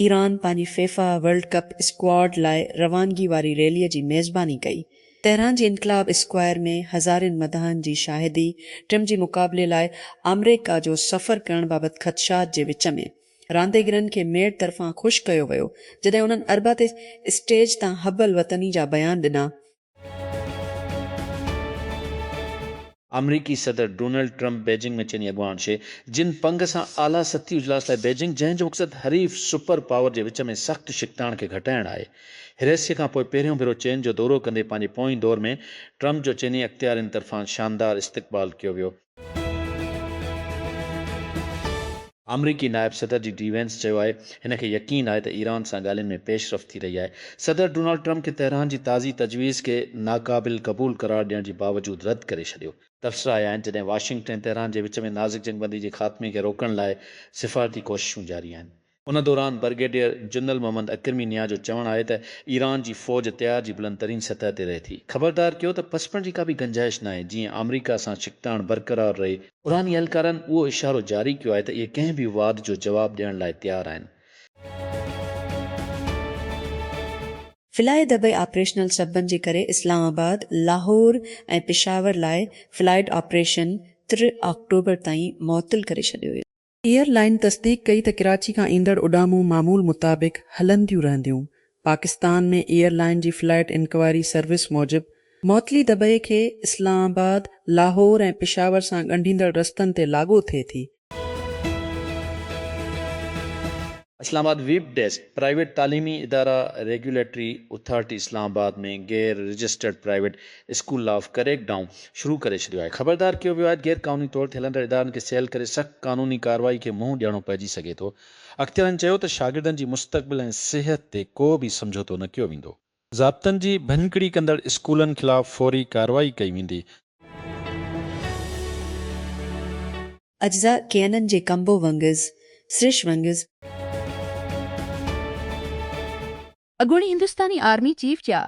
Iran پنهنجي FIFA world cup squad لاء روانگي واري ريلي جي ميزباني ڪئي. تهران جي انقلاب اسڪوائر ۾ هزارين مداحن جي شاهدي، ٽيم جي مقابلي لاء آمريڪا جو سفر ڪرڻ بابت خدشات جي وچ ۾ رانديگرن کي ميڊ طرفان خوش ڪيو ويو جڏهن انهن اربع تي اسٽيج تان حب الوطني جا بيان ڏنا. آمريڪي صدر ڊونلڊ ٽرمپ بيجنگ ۾ چيني اڳواڻ شي جن پنگ سان اعليٰ سطحي اجلاس لاء بيجنگ جنهن جو مقصد حريف سپر پاور جي وچ ۾ سخت ڇڪتاڻ کي گهٽائڻ آهي. هيريسي کان پوء پهريون ڀيرو چين جو دورو ڪندي پنهنجي پوئين دور ۾ ٽرمپ جو چيني اختيارين طرفان شاندار استقبال ڪيو ويو. آمريڪي نائب صدر جي ڊي وينس چيو آهي هن کي يقين آهي ته ايران سان ڳالهين ۾ پيش رفت ٿي رهي آهي. صدر ڊونالڊ ٽرمپ کي تهران جي تازي تجويز کي ناقابل قبول قرار ڏيڻ جي باوجود رد ڪري ڇڏيو. تبصرا آيا آهن جڏهن واشنگٽن ۽ تهران جي وچ ۾ نازڪ جنگ بندي جي خاتمي کي روڪڻ لاء سفارتي ڪوششون جاري آهن. ان دوران برگيڊيئر جنرل محمد اڪرمي نياز جو چوڻ آهي ته ايران جي فوج تيار جي بلند ترين سطح تي رهي ٿي، خبردار ڪيو ته پسپڻ جي ڪا به گنجائش ناهي جيئن آمريڪا سان ڇڪتاڻ برقرار رهي، ايراني اهلڪارن اهو اشارو جاري ڪيو آهي ته اهي ڪنهن به واڌ جو جواب ڏيڻ لاء تيار آهن. فلائي دبئي آپريشنل سببن جي ڪري اسلام آباد، لاهور ۽ پشاور لاء فلائيڊ آپريشن تر آڪٽوبر تائين معطل ڪري ڇڏيو ويو. ايئر لائين تصديق ڪئي ته ڪراچي کان ايندڙ اڏامون معمول مطابق هلنديون رهنديون. پاڪستان ۾ ايئر لائين جي فلائيٽ انڪوائري سروس موجب معطلي دبئي کي اسلام آباد، لاهور ۽ پشاور سان ڳنڍيندڙ رستن تي لاڳو ٿئي ٿي. Islamabad, web desk, private تعليمي ادارا ريگيوليٽري اٿارٽي اسلام آباد ۾ غير رجسٽرڊ پرائيويٽ اسڪول لا آف ڪريڪ ڊائون شروع ڪري ڇڏيو آهي خبردار ڪيو ويو آهي غير قانوني طور تي هلندڙ ادارن کي سيل ڪري سخت قانوني ڪارروائي کي منهن ڏيڻو پئجي سگهي ٿو اختيارين چيو ته شاگردن جي مستقبل ۽ صحت تي ڪو به سمجهوتو نه ڪيو ويندو ضابطن جي ڀڃڪڙي ڪندڙ اسڪولن خلاف فوري ڪارروائي ڪئي ويندي. اجزاء ڪيئنن جي ڪمبو ونگز، سرش ونگز. اڳوڻي هندستاني آرمي چيف جا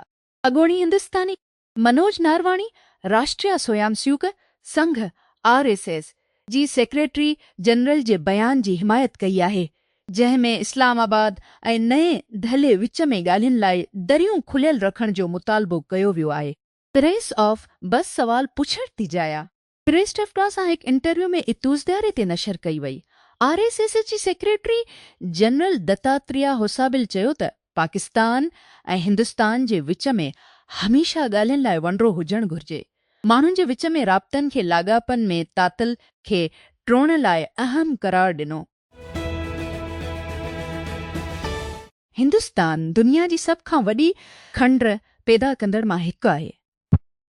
اڳوڻي هندستاني Manoj Naravane Rashtriya Swayamsevak Sangh, R S S, جي سيڪريٽري جنرل جي بيان جي حمايت ڪئي آهي، جنهن ۾ اسلام آباد ۽ نئين دهلي وچ ۾ ڳالهين لاء دريون کليل رکڻ جو مطالبو ڪيو ويو آهي. پريس آف بس سوال پڇڻ تي جايا. پريس ٽفٽا سان هڪ انٽرويو ۾ اتوزدياري تي نشر ڪئي وئي. آر ايس ايس جي سيڪريٽري جنرل دتاتريا هوسابل چيو ته پاڪستان ۽ هندستان جي وچ ۾ هميشه ڳالهين لاء ونڊرو هجڻ گهرجي، ماڻهن جي وچ ۾ رابطن کي لاڳاپن ۾ تعطل کي ٽوڙڻ لاء اهم قرار ڏنو. هندستان دنيا جي سڀ کان وڏي کنڊ پيدا ڪندڙ مان هڪ آهي.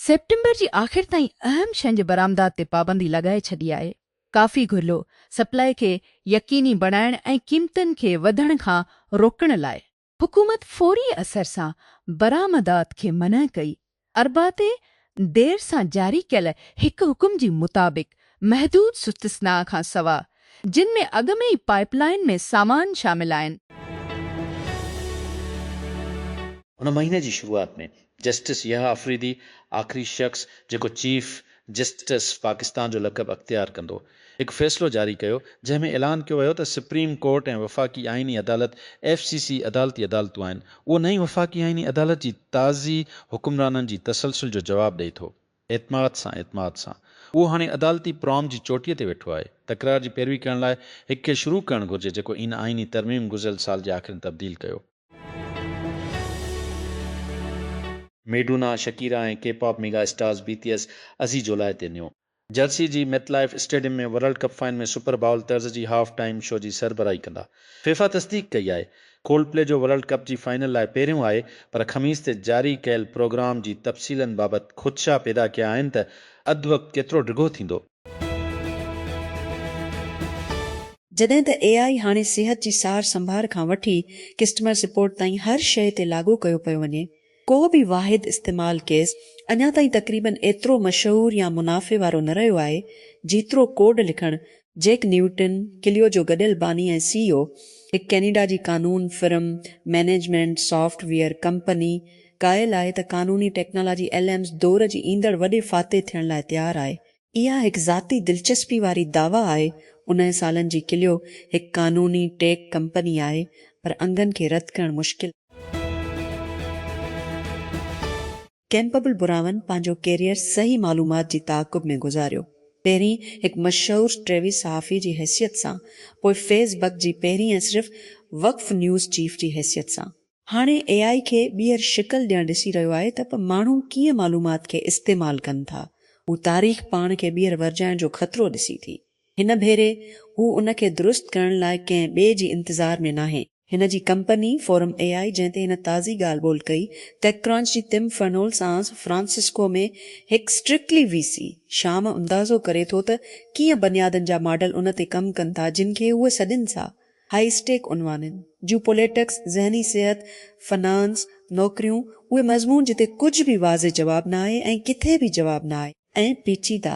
سيپٽمبر جي آخر تائين اهم شين جي برآمدات تي پابندي لڳائي ڇڏي آهي، ڪافي گهرلو، سپلاء، کي يقيني بڻائڻ ۽ قيمتن کي وڌڻ کان روڪڻ لاء. حڪومت فوري اثر سان برآمدات کي منع ڪئي، اربع تي دير سان جاري ڪيل هڪ حڪم جي مطابق محدود سستثناء کان سوا، جن ۾ اڳ ۾ ئي پائيپ لائين ۾ سامان شامل آهن. هن مهيني جي شروعات ۾ جسٽس يحيٰ آفريدي آخري شخص جيڪو چيف جسٽس پاڪستان جو لقب اختيار ڪندو، هڪ فيصلو جاري ڪيو، جنهن ۾ اعلان ڪيو ويو ته سپريم ڪورٽ ۽ وفاقي آئيني عدالت، ايف سي سي، عدالتي عدالتون آهن. اهو نئين وفاقي آئيني عدالت جي تازي حڪمرانن جي تسلسل جو جواب ڏئي ٿو. اعتماد سان اعتماد سان. اهو هاڻي عدالتي پرام جي چوٽيء تي ويٺو آهي. تڪرار جي پيروي ڪرڻ لاء هڪ کي شروع ڪرڻ گهرجي جيڪو ان آئيني ترميم گذريل سال جي آخر ۾ تبديل ڪيو. ميڊونا، شڪيرا ۽ ڪي pop mega stars B T S ازي جولاء تي نيو جرسي جي MetLife stadium ۾ world cup final ۾ Super Bowl طرز جي هاف ٽائيم شو جي سربراهي ڪندا. فيفا تصديق ڪئي آهي. ڪولڊ پلي جو ورلڊ ڪپ جي فائنل لاء پهريون آهي پر خميس تي جاري ڪيل پروگرام جي تفصيلن بابت خدشا پيدا ڪيا آهن ته اڌ وقت ڪيترو ڊگهو ٿيندو. جڏهن ته اي آء هاڻي صحت جي سار سنڀار کان وٺي ڪسٽمر سپورٽ تائين هر شيء تي لاڳو ڪيو پيو وڃي ڪو به واحد استعمال ڪيس اڃا تائين تقريباً ايترو مشهور يا منافعي وارو نه رهيو آهي، جيترو ڪوڊ لکڻ جيڪ نيوٽن، ڪليو جو گڏيل باني ۽ سي اي او، هڪ ڪينيڊا جي قانون firm, management software company, قائل آهي ته قانوني ٽيڪنالاجي ايل ايمز دور جي ايندڙ وڏي فاتح ٿيڻ لاء تيار آهي. اها هڪ ذاتي دلچسپي واري دعويٰ آهي، انهن سالن جي ڪليو هڪ قانوني ٽيڪ ڪمپني آهي، پر انگن کي رد ڪرڻ مشڪل آهي. ڪيمپبل براون پنهنجو ڪيريئر صحيح معلومات جي تعاقب ۾ گذاريو. پهرين هڪ مشهور ٽيوي صحافي جي حيثيت سان، پوء فيس بڪ جي پهرين ۽ صرف وقف نيوز چيف جي حيثيت سان. هاڻي اي آء کي ٻيهر شڪل ڏيڻ ڏسي رهيو آهي ته به ماڻهو ڪيئن معلومات کي استعمال ڪن ٿا. هو تاريخ پاڻ کي ٻيهر ورجائڻ جو خطرو ڏسي ٿي. هن ڀيري هو ان کي درست ڪرڻ لاء ڪنهن ٻئي جي انتظار ۾ ناهي. هن جي ڪمپني فورم اي آء جنهن تي هن تازي ڳالهه ٻولهه ڪئي، ٽيڪ ڪرانچ جي تم فرنول سانس فرانسسڪو ۾ هڪ اسٽرڪلي وي سي، شام اندازو ڪري ٿو ته ڪيئن بنيادن جا ماڊل ان تي ڪم ڪن ٿا جن کي هوء سڏين ٿا هاء اسٽيڪ عنوانن جون پوليٽڪس، ذهني صحت، فنانس، نوڪريون، اهي مضمون جتي ڪجهه به واضح جواب نه آهي ۽ ڪٿي به جواب نه آهي ۽ پيچيده.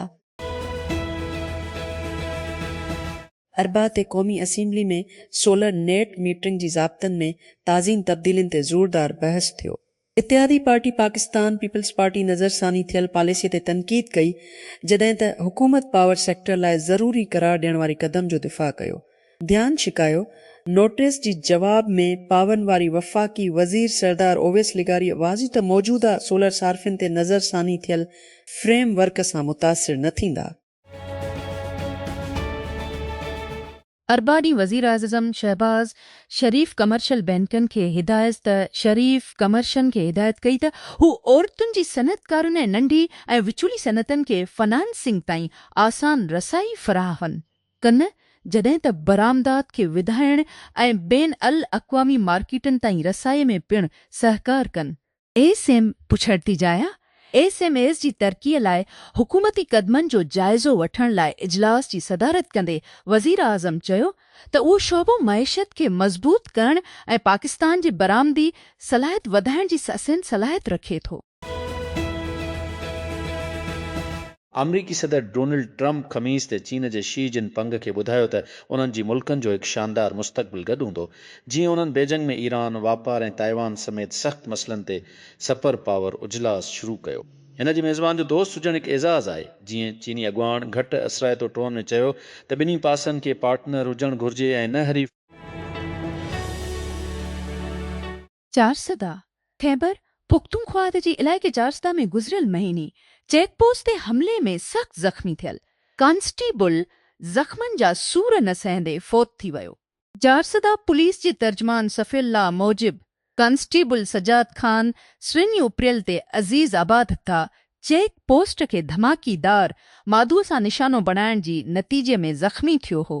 اربع تي قومي اسيمبلي ۾ سولر نيٽ ميٽرنگ جي ضابطن ۾ تازين تبديلين تي زوردار بحث ٿيو. اتحادي پارٽي پاڪستان پيپلز پارٽي نظرثاني ٿيل پاليسي تي تنقيد ڪئي جڏهن ته حڪومت پاور سيڪٽر لاء ضروري قرار ڏيڻ واري قدم جو دفاع ڪيو ڌيان ڇڪايو نوٽيس جي جواب ۾ پاورن واري وفاقي وزير سردار اويس لغاري واضح ته موجوده سولر صارفين تي نظرثاني ٿيل فريم ورڪ سان متاثر نه ٿيندا. اربع ڏينهن وزيراعظزم شهباز شريف ڪمرشل بئنڪن کي هدايت ته شريف ڪمرشن کي هدايت ڪئي ته هو عورتن جي صنعتڪارن ۽ ننڍي ۽ وچولي صنعتن کي فنانسنگ تائين آسان رسائي فراهن ڪن جڏهن ته برآمدات کي وڌائڻ ۽ بين الاقوامي مارڪيٽن تائين رسائي ۾ پڻ سهڪار ڪن. ايس ايم پڇڙتي جايا ايس ايم ايز جي ترقي لاء حڪومتي قدمن جو جائزو وٺڻ لاء اجلاس جي صدارت ڪندي وزيراعظم چيو ته اهو شعبو معيشت کي مضبوط ڪرڻ ۽ پاڪستان جي برآمدي صلاحيت وڌائڻ جي سسين صلاحيت رکي ٿو. آمريڪي صدر ڊونلڊ ٽرمپ خميس تي چين جي شي جن پنگ کي ٻڌايو ته انهن جي ملڪن جو هڪ شاندار مستقبل گڏ هوندو جيئن انهن بيجنگ ۾ ايران، واپار ۽ تائيوان سميت سخت مسئلن تي سپر پاور اجلاس شروع ڪيو. هن جي ميزبان جو دوست هجڻ هڪ اعزاز آهي، جيئن چيني اڳواڻ گهٽ اثرائتو ٽون ۾ چيو ته ٻنهي پاسن کي پارٽنر هجڻ گهرجي ۽ نه حريف. چارسده، خيبر پختونخواد جي علائقي چارسده ۾ گذريل مهيني چيڪ پوسٽ تي حملي ۾ سخت زخمي ٿيل ڪانسٽيبل زخمن جا سور نه سهندي فوت ٿي ويو. چارسده پوليس جي ترجمان صفي الله موجب ڪانسٽيبل سجاد خان سوين اپريل تي عزيز آباد تھ چيڪ پوسٽ کي ڌماڪي دار مادو سان نشانو بڻائڻ جي نتيجي ۾ زخمي ٿيو ھو.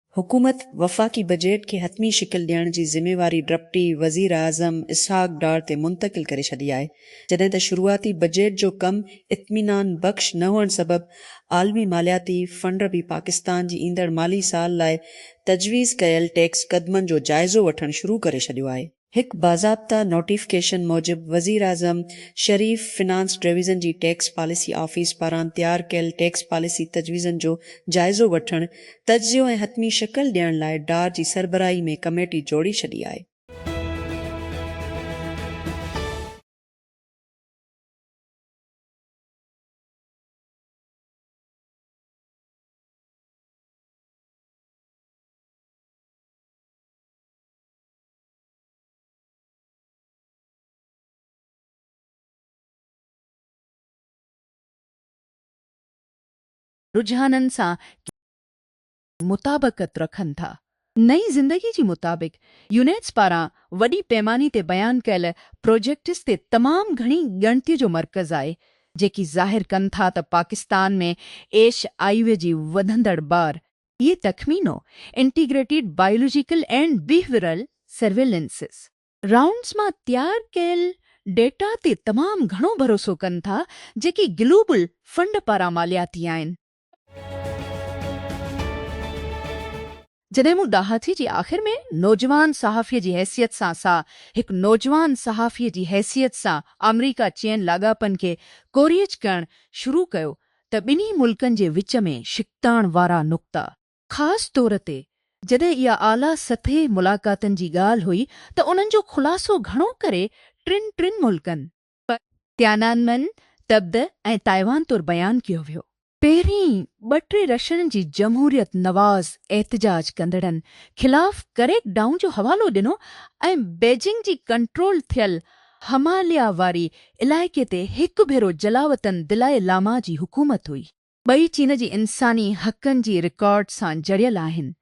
حڪومت وفاقي بجيٽ کي حتمي شڪل ڏيڻ جي ذميواري ڊپٽي وزيراعظم اسحاق ڊار تي منتقل ڪري ڇڏي آهي، جڏهن ته شروعاتي بجيٽ جو ڪم اطمينان بخش نه هئڻ سبب عالمي مالياتي فنڊ به پاڪستان جي ايندڙ مالي سال لاء تجويز ڪيل ٽيڪس قدمن جو جائزو وٺڻ شروع ڪري ڇڏيو آهي. هڪ باضابطه نوٽيفڪيشن موجب وزيراعظم شريف فنانس ڊويزن جي ٽيڪس پاليسي آفيس پاران تيار ڪيل ٽيڪس پاليسي تجويزن جو جائزو وٺڻ، تجزيو ۽ حتمي شڪل ڏيڻ لاء ڊار جي سربراهي ۾ ڪميٽي جوڙي ڇڏي آهي. رجحانن سان ڪيتري مطابقت رکن ٿا؟ نئين زندگي جي مطابق يونيٽس پاران وڏي پيماني تي بيان ڪيل پروجيڪٽس تي تمام گهڻي ڳڻتي جو مرڪز آهي، جيڪي ظاهر ڪن ٿا ته پاڪستان ۾ ايش آئيوي جي وڌندڙ بار اهي تخمينو، Integrated Biological and Behavioral Surveillances، rounds مان تيار ڪيل ڊيٽا تي تمام گهڻو ڀروسو ڪن ٿا جيڪي گلوبل فنڊ پاران مالياتي آهن. جڏهن مون ڏاهاٿي جي آخر ۾ نوجوان صحافي جي حيثيت سان سا هڪ نوجوان صحافي جي حيثيت سان آمريڪا چين لاڳاپن کي ڪوريج ڪرڻ شروع ڪيو ته ٻنهي ملڪن جي وچ ۾ ڇڪتاڻ وارا نقطا خاص طور تي جڏهن اها اعليٰ سطحي ملاقاتن جي ڳالهه هئي ته انهن جو خلاصو گهڻو ڪري ٽن ٽن ملڪن پ تيانانمن، تبت ۽ تائيوان طور بيان ڪيو ويو. پهرين ٻه ٽي رشن جي جمهوريت نواز احتجاج ڪندڙن خلاف ڪريڪ ڊائون جو حوالو ڏنو ۽ بيجنگ جي ڪنٽرول ٿيل هماليا واري علائقي تي هڪ ڀيرو جلاوطن دلائي لاما جي حڪومت هئي. ٻئي چين جي انساني حقن جي رڪارڊ سان جڙيل آهن.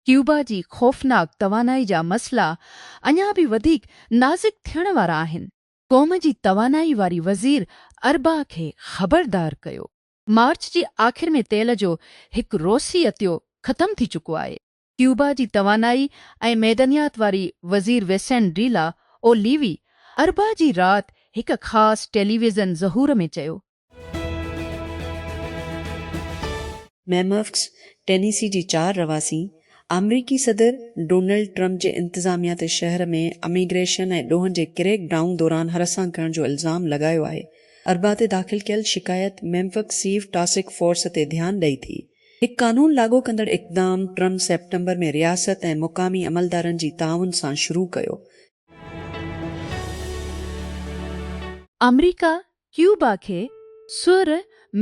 ڪيوبا جي خوفناڪ توانائي جا مسئلا اڃا به وڌيڪ نازڪ ٿيڻ وارا آهن. قوم جي توانائي واري وزير اربع کي خبردار ڪيو. مارچ جي آخر ۾ تيل جو هڪ روسي عطيو ختم ٿي چڪو آهي. ڪيوبا جي توانائي ۽ معدنيات واري وزير Vicente de la O levy اربع جي رات هڪ خاص ٽيليويزن ظهور ۾ چيو. ميمفڪس، ٽينيسي جي چار رهواسين آمريڪي صدر ڊونلڊ ٽرمپ جي انتظاميا تي شهر ۾ اميگريشن ۽ ڏوهن جي ڪريڪ ڊائون دوران هراسان ڪرڻ جو الزام لڳايو آهي. اربع تي داخل ڪيل شڪايت ميمفڪس سيف ٽاسڪ فورس تي ڌيان ڏئي ٿي. هڪ قانون لاڳو ڪندڙ اقدام ٽرمپ سيپٽمبر ۾ رياست ۽ مقامي عملدارن جي تعاون سان شروع ڪيو. آمريڪا ڪيوبا کي سؤر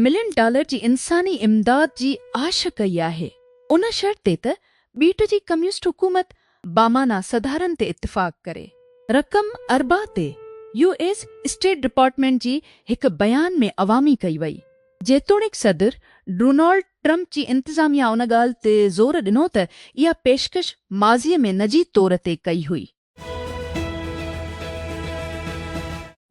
ملين ڊالر جي انساني امداد جي آڇ ڪئي آهي، ان شرط تي ته ٻيٽ جي ڪميونسٽ حڪومت بامعنيٰ سڌارن تي اتفاق ڪري. رقم اربع تي يو ايس اسٽيٽ ڊپارٽمينٽ جي هڪ بيان ۾ عوامي ڪئي وئي. جيتوڻيڪ صدر ڊونالڊ ٽرمپ جي انتظاميا ان ڳالهه تي زور ڏنو ته اها پيشڪش ماضي ۾ نجي طور تي ڪئي هئي.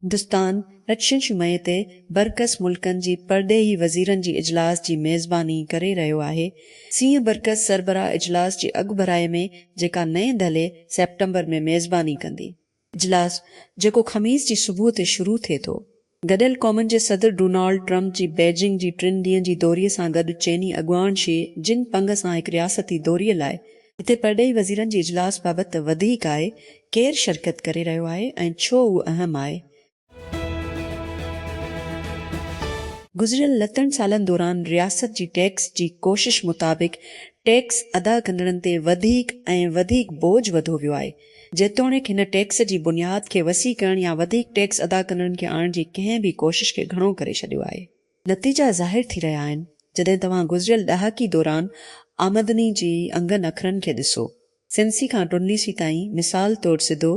هندستان اچين شمعي تي برعڪس ملڪن جي پرڏيهي وزيرن جي اجلاس جي ميزباني ڪري رهيو آهي، سين برڪس سربراهه اجلاس جي اڳڀرائي ۾ جيڪا نئين دهلي سيپٽمبر ۾ ميزباني ڪندي. اجلاس جيڪو خميس جي صبح تي شروع ٿئي ٿو، گڏيل قومن جي صدر ڊونالڊ ٽرمپ جي بيجنگ جي ٽن ڏينهن جي دوري سان گڏ چيني اڳواڻ شي جن پنگ سان هڪ رياستي دوري لاء هتي پرڏيهي وزيرن جي اجلاس بابت ته وڌيڪ آهي ڪير شرڪت ڪري رهيو آهي ۽ ڇو اهو اهم آهي گذريل لتن سالن دوران رياست جي ٽيڪس جي ڪوشش مطابق ٽيڪس ادا ڪندڙن تي وڌيڪ ۽ وڌيڪ بوجهه وڌو ويو آهي، جيتوڻيڪ هن ٽيڪس جي بنياد کي وسيع ڪرڻ يا وڌيڪ ٽيڪس ادا ڪندڙن کي آڻڻ جي ڪنهن به ڪوشش کي گهڻو ڪري ڇڏيو آهي. نتيجا ظاهر ٿي رهيا آهن جڏهن توهان گذريل ڏهاڪي دوران آمدني جي انگن اکرن کي ڏسو سنسي کان ٽنليسي تائين، مثال طور سڌو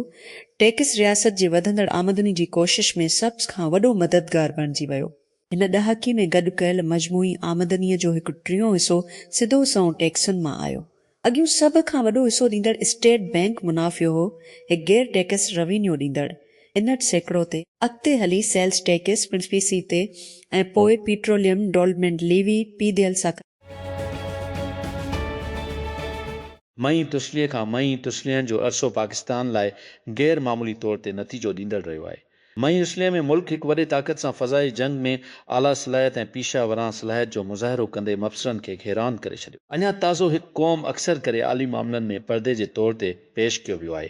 ٽيڪس رياست جي وڌندڙ آمدني جي ڪوشش ۾ سبز کان وڏو مددگار بڻجي ويو. هن ڏهاڪي ۾ گڏ ڪيل مجموعي آمدني جو هڪ ٽيون حصو سڌو سنئون ٽيڪسن مان آيو. اڳيون سڀ کان وڏو حصو ڏيندڙ اسٽيٽ بئنڪ منافعو هو، هڪ غير ٽيڪس روينيو ڏيندڙ، انهٺ سيڪڙو تي، اڳتي هلي سيلز ٽيڪس، پڻ سي سي تي، ۽ پوء پيٽروليم، ڊولپمينٽ ليوي، پي ديل ساڪن. مئي تسليء کان مئي تسلين جو عرصو پاڪستان لاء غير معمولي طور تي نتيجو ڏيندڙ رهيو آهي. مئي اسليء ۾ ملڪ هڪ وڏي طاقت سان فضائي جنگ ۾ اعليٰ صلاحيت ۽ پيشه ورانه صلاحيت جو مظاهرو ڪندي مبصرن کي حيران ڪري ڇڏيو. اڃا تازو هڪ قوم اڪثر ڪري عالي معاملن ۾ پردي جي طور تي پيش ڪيو ويو آهي.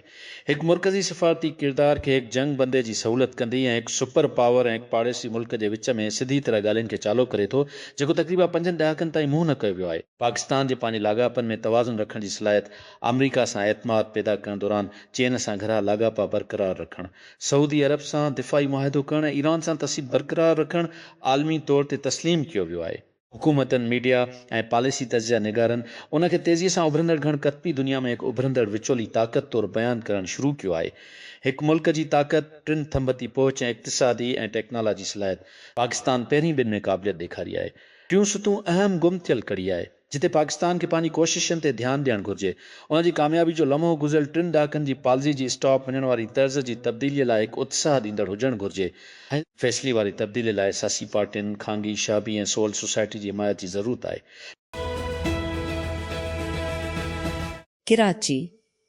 هڪ مرڪزي سفارتي ڪردار کي هڪ جنگ بندي جي سهولت ڪندي ۽ هڪ سپر پاور ۽ هڪ پاڙيسري ملڪ جي وچ ۾ سڌي طرح ڳالهين کي چالو ڪري ٿو جيڪو تقريبا پنجن ڏهاڪن تائين منهن نه ڪيو ويو آهي. پاڪستان جي پنهنجي لاڳاپن ۾ توازن رکڻ جي صلاحيت، آمريڪا سان اعتماد پيدا ڪرڻ دوران چين سان گھرا لاڳاپا برقرار رکڻ، سعودي عرب سان دفاعي معاهدو ڪرڻ ۽ ايران سان تصيب برقرار رکڻ عالمي طور تي تسليم ڪيو ويو آهي. حڪومتن، ميڊيا ۽ پاليسي تجزيه نگارن ان کي تيزيء سان اڀرندڙ گهڻ ڪتبي دنيا ۾ هڪ اڀرندڙ وچولي طاقت طور بيان ڪرڻ شروع ڪيو آهي. هڪ ملڪ جي طاقت، ٽن ٿنڀتي پهچ ۽ اقتصادي ۽ ٽيڪنالاجي صلاحيت. پاڪستان پهرين ٻن ۾ قابليت ڏيکاري آهي. ٽيون ستون اهم گم ٿيل ڪڙي آهي، جتي پاڪستان کي پنهنجي ڪوششن تي ڌيان ڏيڻ گهرجي. ان جي ڪاميابي جو لمحو گذريل ٽن ڏهاڪن جي پالزي جي اسٽاپ وڃڻ واري طرز جي تبديليء لاء هڪ اتساهه ڏيندڙ هجڻ گهرجي. هن فيصلي واري تبديلي لاء سياسي پارٽين، خانگي شعبي ۽ سول سوسائٽي جي حمايت جي ضرورت آهي. ڪراچي،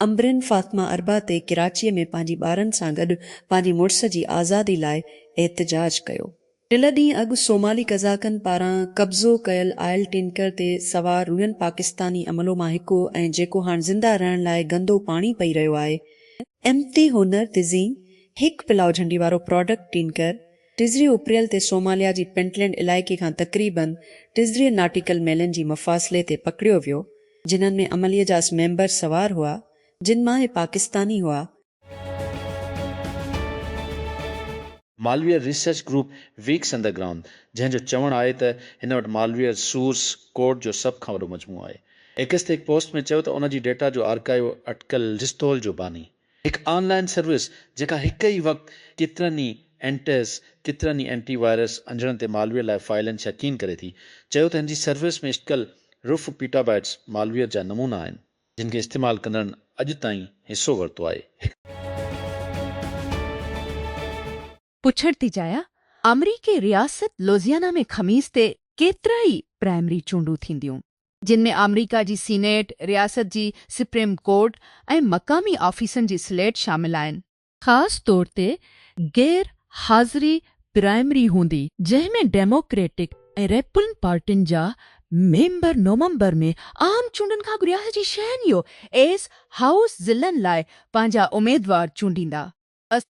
عنبرين فاطمه اربع تي ڪراچيء ۾ پنهنجي ٻارن سان گڏ پنهنجي مڙس جي آزادي لاء احتجاج ڪيو. ٽله ڏينهن اڳ صومالي قزاقن پاران قبضو ڪيل آئل ٽينڪر تي سوار رهين پاڪستاني عملو مان هڪ هو ۽ جيڪو هاڻ زنده رهڻ لاء گندو پاڻي پئي رهيو آهي. امتي هنر تزين هڪ پلاء جهنڊي وارو پراڊڪٽ ٽينڪر ٽزري اپريل تي صوماليا جي پنٽلينڊ علائقي کان تقريباً ٽزري ناٽيڪل ميلن جي مفاصلي تي پڪڙيو ويو، جنھن ۾ عملي جا اسي ميمبر سوار هئا، جن مان اھي پاڪستاني هئا. Malware research group VX underground, جنھن جو چوڻ آهي ته هن وٽ مالويئر سورس ڪوڊ جو سڀ کان وڏو مجموعو آهي، ايڪس تي هڪ پوسٽ ۾ چيو ته ان جي ڊيٽا جو آرڪائيو اٽڪل رستول جو باني، هڪ آن لائن سروس جيڪا هڪ ئي وقت ڪيترن ئي اينٽيز، ڪيترن ئي اينٽي وائرس انجڻن تي مالويئر لاء فائلن شڪين ڪري ٿي، چيو ته هن جي سروس ۾ اٽڪل رف پيٽابائيٽس مالويئر جا نمونا آهن، جن کي استعمال ڪندڙن اڄ تائين حصو ورتو آهي. پڇڻ ٿي چاهيان آمريڪي رياست لوزيانا ۾ خميس تي ڪيترائي پرائمري چونڊون ٿينديون، جن ۾ آمريڪا جي سينيٽ، رياست جي سپريم ڪورٽ ۽ مقامي آفيسن جي سليٽ شامل آهن. خاص طور تي غير حاضري پرائمري هوندي، جنهن ۾ ڊيموڪريٽڪ ۽ ريپبلن پارٽين جا ميمبر نومبر ۾ عام چونڊن کان اڳ رياست جي شهن يو ايس هائوس ضلعن لاء پنهنجا اميدوار چونڊيندا. اسٽ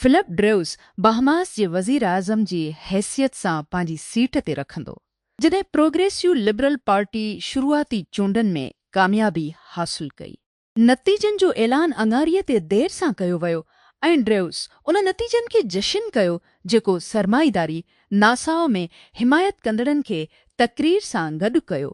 فلپ ڊريوس باهماس جي وزيراعظم جي حيثيت سان پنهنجي سيٽ تي رکندو جڏهن پروگريسيو لبرل پارٽي شروعاتي چونڊن ۾ ڪاميابي حاصل ڪئي. نتيجن جو اعلان اڱاري تي دير سان ڪيو ويو ۽ ڊريوس ان نتيجن کي جشن ڪيو جيڪو سرمائيداري ناساء ۾ حمايت ڪندڙن کي تقرير سان گڏ ڪيو.